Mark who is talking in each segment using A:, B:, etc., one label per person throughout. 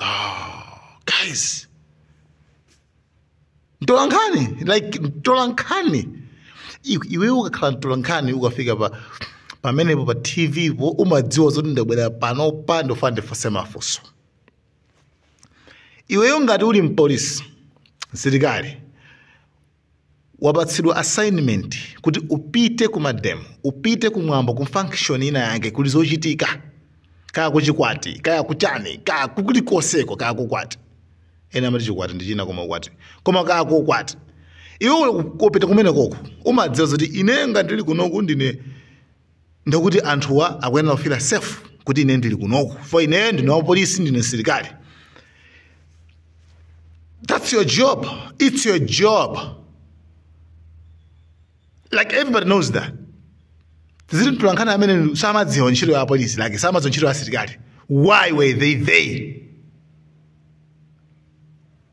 A: oh, guys mtolankhani like mtolankhani I- iwe ukakhala mtolankhani ukafika pa pamenepo pa tv po umadziwa zoti ndabwera panopa ndofuna ndifunse mafunso iweyo ngati uli mpolisi msilikali wapatsidwa assignment kuti upite ku mademo upite kumwambo ku function ina yake kuli zochitika kaya kuchikwati kaya kuchani kaya kulikonseko kaya kukwati ena amati chikwati ndi china koma ukwati koma kaya kukwati iwe ukupita kumenekoko umadziwa zoti ine ngati ndili kunoku ndine ndekuti anthuwa akuyenera kufila safe kuti ine ndili kunoku for ineyo ndine wapolisi ndine msilikali that's your job it's your job like everybody knows that zili mtolankhani amene samadziwa ntchito ya apolisi like samadziwa ntchito ya asilikali why were they there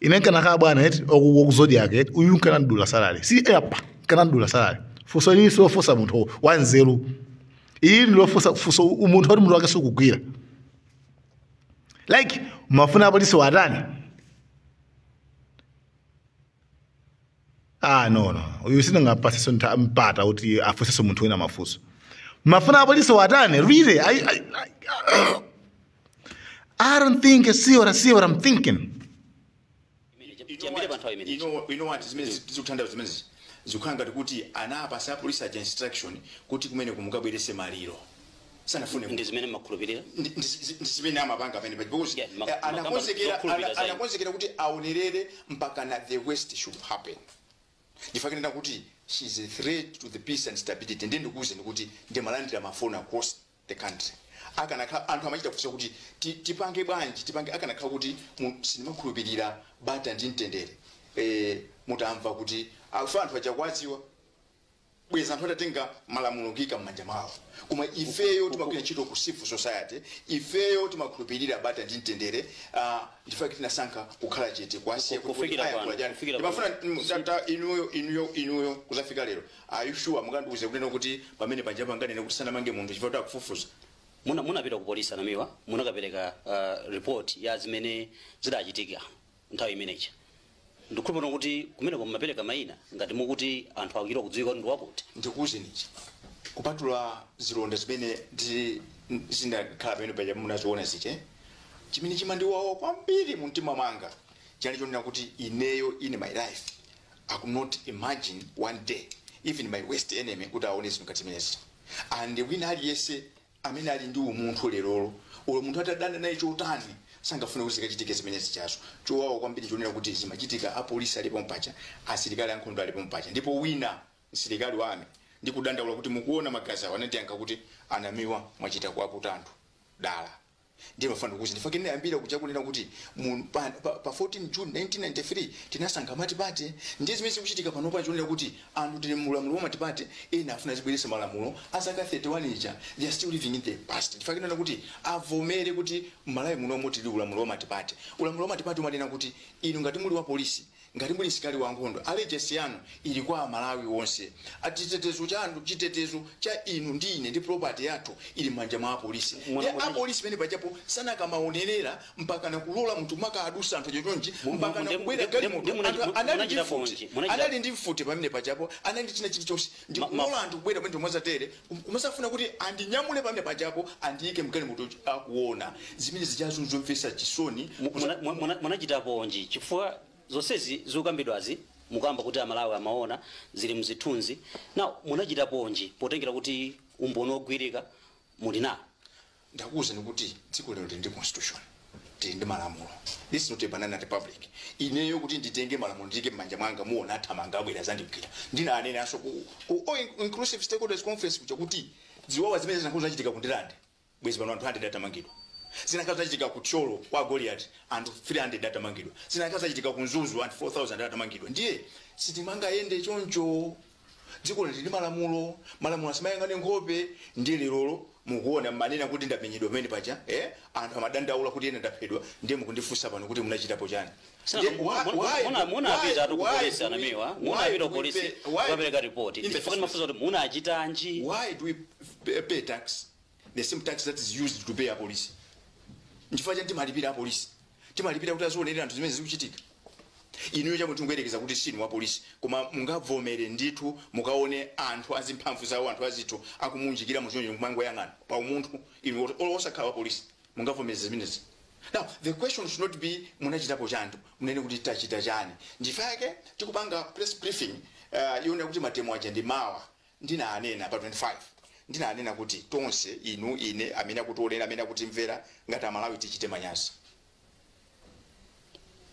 A: ine nkanakhala bwana eti wa ku Zodiak eti uyu nkanamdula salary si apa nkanamdula salary funso ili silofunsa munthu wanzeru ili ndilofunsa funso munthu oti mutu wake sukugwira like mumafuna apolisiwa atani ah no no uyu sindingampatsenso ntha- mpata kuti afunsenso munthu wina mafunso mumafuna apolisiwa atani really I, I, I, I don't think you see what I see what I'm thinking chiyambire
B: panthawi imeneyi you know you know what zimene zikutanthauza zimene zikukhala ngati kuti anapasa apolisi aja instruction kuti kumeneku mukabweretse maliro sanafune ndi zimene amakhulupirira
C: ndi- ndi- ndi
B: zimene amapanga pamene paja because Yeah, ma- eh, makamba anakonzekera zokhulupirira ana- zayo. anakonzekera kuti aonerere mpaka na the worst should happen nchifukwa chake ndikunena kuti she is a threat to the peace and stability ndi ndikuuzeni kuti ndimalandira mafoni across the country akanakhala anthu amachita kufunsa kuti ti- tipange bwanji tipange akanakhala kuti mu- sindimakhulupirira bata ndi mtendere eh, mutamva kuti afa anthu aja kuwadziwa bwezi anthu atatenga malamulo kuika m'manja mwawo koma ifeyo timagwira ntchito ku civil society ifeyo timakhulupirira bata ndi mtendere ah, ndi chifukwa chake tinasankha kukhala chete kuwasiya kuti Kufikira aya pano, kulajani. kufikira Ndimafuna pano. mm, tata inuyo inuyo inuyo kuzafika lero are you sure mukandiuze kunena kuti pamene panja panganene kuti sanamange munthu chifukwa kuti akufufuza muna munapita ku
C: polisi a Namiwa munakapereka uh, report ya zimene zidachitika nthawi imene ija. Ndikukhulupirira kuti kumeneko mumapereka maina ngati mukuti anthu akuchita kudziwika kuti ndi wakuti. ndikuuzeni ichi,
B: kupatula zilonda zimene zinakhala pamene paja munaziona zija, eh, chimene chimandiwawa kwambiri mu mtima mwanga chinali chonena kuti ineyo in my life I could not imagine one day even my worst enemy kuti aone zinthu ngati zimenezi and wina aliyense amene ali ndi umunthu lerolo olo munthu atadana naye chotani sangafune kuti zikachitike zimene zijazo chowawa kwambiri chonena kuti zimachitika apolisi ali pompaja asilikali ankhondo ali pompaja ndipo wina msilikali wa ami ndi kudandaula kuti mukuona magazi awo anandiyankha kuti anamiwa mwachita kuwaputa anthu dala Ndiye ndimafuna ndikuuze chifukwa chimene ndinayambira kuja kunena kuti mu, pa, pa, pa 14 June 1993 tinasankha matipate. Ndiye zimene zikuchitika panopa ndi chonena kuti anthu tili mu ulamuliro wa matipate ena afuna azibweretsa malamulo a zaka 31 ija. They are still living in the past. Chifukwa chake ndinena kuti avomere kuti m'Malawi munomo tili ulamuliro wa matipate. Ulamuliro wa matipate umanena kuti inu ngati muli wa polisi Ngati muli msilikali wankhondo allegiance yanu ili kwa a Malawi onse. Ati chitetezo chanu, chitetezo cha inu ndi ine ndi property yathu ili mmanja mwa apolisi. Mwana Nde mwana- apolisi pamene pajapo sanakamaonerera mpakana kulola munthu maka adutsa anthu chochonchi Mu- mu- mpakana nde- kubwera nde- galimoto nde muna- anthu muna- anali ndi munachitapo mfuti nji? Munachita- anali ndi mfuti pamene pajapo anali ndi china chilichonse ndi Ma- ma- kulola anthu kubwera pamene mwazatere nkumasafuna kuti andinyamule panja pajapo andiike mgalimoto uja akuona zimene zijazo nzomvetsa chisoni
C: Muna- muna-
B: muna-
C: munachitaponji chifukwa zonsezi zikukambidwazi mukamba kuti amalawi amaona zili mzithunzi na munachitaponji potengera kuti umboni wogwirika muli nawo
B: ndakuuzani kuti dziko lino lili ndi constitution tili ndi malamulo this is not a banana republic ineyo kuti nditenge malamulo ndiike m'manja mwanga muona athamanga abwera zandigwira ndinanenanso ku, ku all inclusive stakeholders conference kuja kuti ziwawa zimene zinakakhala zachitika ku Ndirande bwezi pano anthu 100 atamangidwa zinakakhala zachitika ku Thyolo kwa goliati anthu 300 atamangidwa zinakakhala zachitika ku Mzuzu anthu 4000 atamangidwa ndiye sitimangayende choncho dziko lili ndi malamulo malamulo samayang'ana nkhope ndiye lerolo mukuona mmanena kuti ndamenyedwa pamene paja eh? anthu amadandaula kuti ine ndaphedwa ndiye mukundifunsa pano kuti munachitapo chani Sina, Ndiye, muna- why- muna- why- muna- muna why-
C: apita tu ku why polisi do we- anamiwa why muna apita do ku we polisi pay- why- kukapereka ripoti In the chifukwa first ndimafunsa kuti munachitanji why do we
B: p- pay tax the same tax that is used to pay apolisi nchifukwa chani timalipira apolisi timalipira kuti azionelera anthu zimene zikuchitika inuyo chamwe tingoyerekeza kuti sinu wapolisi koma mungavomere ndithu mukaone anthu azimphanga zawo anthu azithu akumunjikira muchonchi kumangoyang'ana pa umunthu inu oti- olo osakhala wapolisi mungavomere zimenezi now the question should not be munachitapo chani tu munene kuti tachita chani ndichifukwa chake tikupanga press briefing uh, yonena kuti mademo aja ndi mawa Ndinanena pa 25, ndinanena kuti tonse, inu, ine, amene akutionera, amene akutimvera, ngati Amalawi tichite manyazi.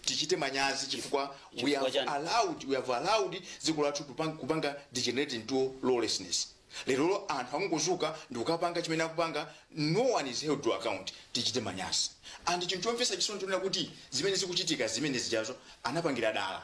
B: Tichite manyazi chifukwa we Chifukwa have chani? allowed, we have allowed dziko lathu tupang- kupanga degenerate into lawlessness. Lero anthu akungodzuka ndi kukapanga chimene akupanga, no one is held to account. Tichite manyazi. And chinthu chomvetsa chisoni chonena kuti zimene zikuchitika zimene zijazo anapangira dala.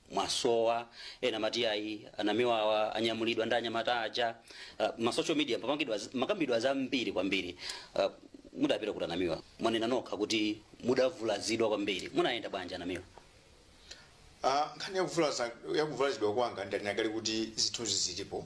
C: mwasowa ena mati ayi anamiwa awa anyamulidwa ndi anyamata aja uh, ma social media papangidwa z- pamakambidwa zambiri kwambiri uh, mudapita kuti anamiwa mwanena nokha kuti mudavulazidwa kwambiri munayenda bwanji
B: anamiwa Ah, nkhani yakuvulaza yakuvulazidwa kwanga ndinakali kuti zithunzi zilipo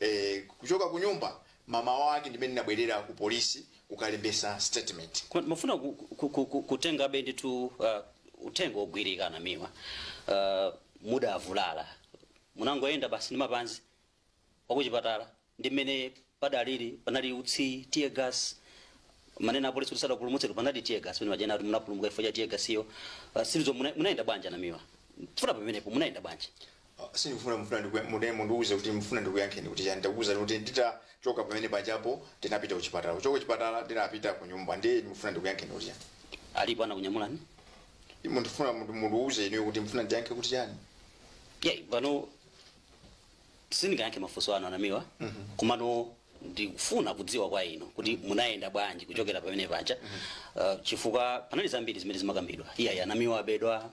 B: eh, kuchoka kunyumba mmawa wake ndimene ndinabwerera ku polisi kukalembesa statement Kwa- mafuna ku-
C: ku- ku- ku- kutenga side two uh, ife timangogwira a Namiwa uh, mudavulala munangoyenda basi ndi mapazi mpaka kuchipatala ndi mmene padalili panali utsi tear gas mwanena apolisi kuti sadapulumutse panali tear gas pamene paja ndakuti munapulumuka chifukwa cha tear gas iyo uh, silizo muna- munayenda bwanji anamiwa funa pamenepo munayenda bwanji sindikufuna
B: mufuna ndiku- mune mundiuze kuti mufuna ndikuyankheni kuti chani ndakuuzani kuti nditachoka pamene pajapo ndinapita kuchipatala kuchoka kuchipatala ndinapita ku nyumba ndiye mufuna ndikuyankheni kuti chani alipo
C: anakunyamulani
B: mundifuna mundiuze inuyo kuti mufuna ndiyankhe kuti chani apa
C: ndiye sindingayankhe mafunso anu anamiwa komano ndikufuna kudziwa kwa inu kuti munayenda bwanji kuchokera pamene paja uh, chifukwa panali zambiri zimene zimakambidwa iyayi anamiwa abedwa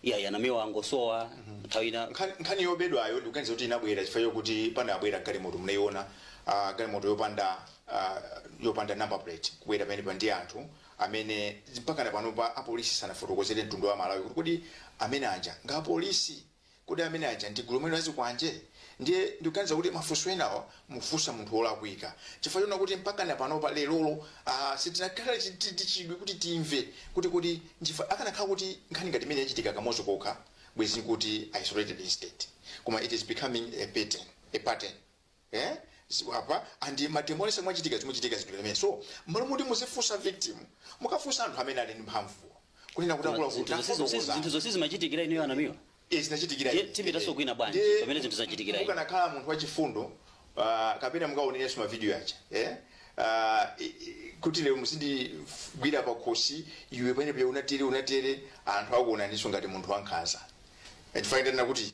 C: iyayi anamiwa angosowa nthawi ina Nkhani- nkhani yobedwayo
B: ndikuganiza kuti inabwera chifukwa chokuti panabwera galimoto munayiona ah, galimoto yopanda ah, yopanda number plate kubwera pamenepaja ndi anthu amene mpakana panopa apolisi sanafotokozere mtundu wa malawi kuti kodi amene aja ndi apolisi Kodi amene aja ndi gulu lomweli la zikwanje? Ndiye ndikuganiza kuti mafunso enawa mukufunsa munthu wolakwika chifukwa choona kuti mpakana panopa lero lino aah sitinakhale chiti ndi chidwi kuti timve kuti kodi nchifukwa akanakhala kuti nkhani ngati imeneyi yachitika kamodzi kokha bwenzi tikuti isolated incident koma it is becoming a pattern, a pattern. eh ziko apa andi matemolese mwachitika zikuchitika zinthu zimene so mmalo moti muzifunsa victim mukafunsa anthu amene ali ndi mphamvu kunena kuti nkhani ndiyakuti zinthu zonse zimachitikira
C: inuyo anamiwa zinachitikira Ye-
B: tipitanso kwina
C: bwanji, Ndi- pamene zinthu zachitikira inu. mukanakhala munthu
B: wachifundo ah, kapena mukaonerenso mavidiyo aja eh? Ah, i- i- kuti lero muzindigwira pakhosi iwe pamene paja unatere unatere anthu akuonaninso ngati munthu wankhanza chifukwa kuti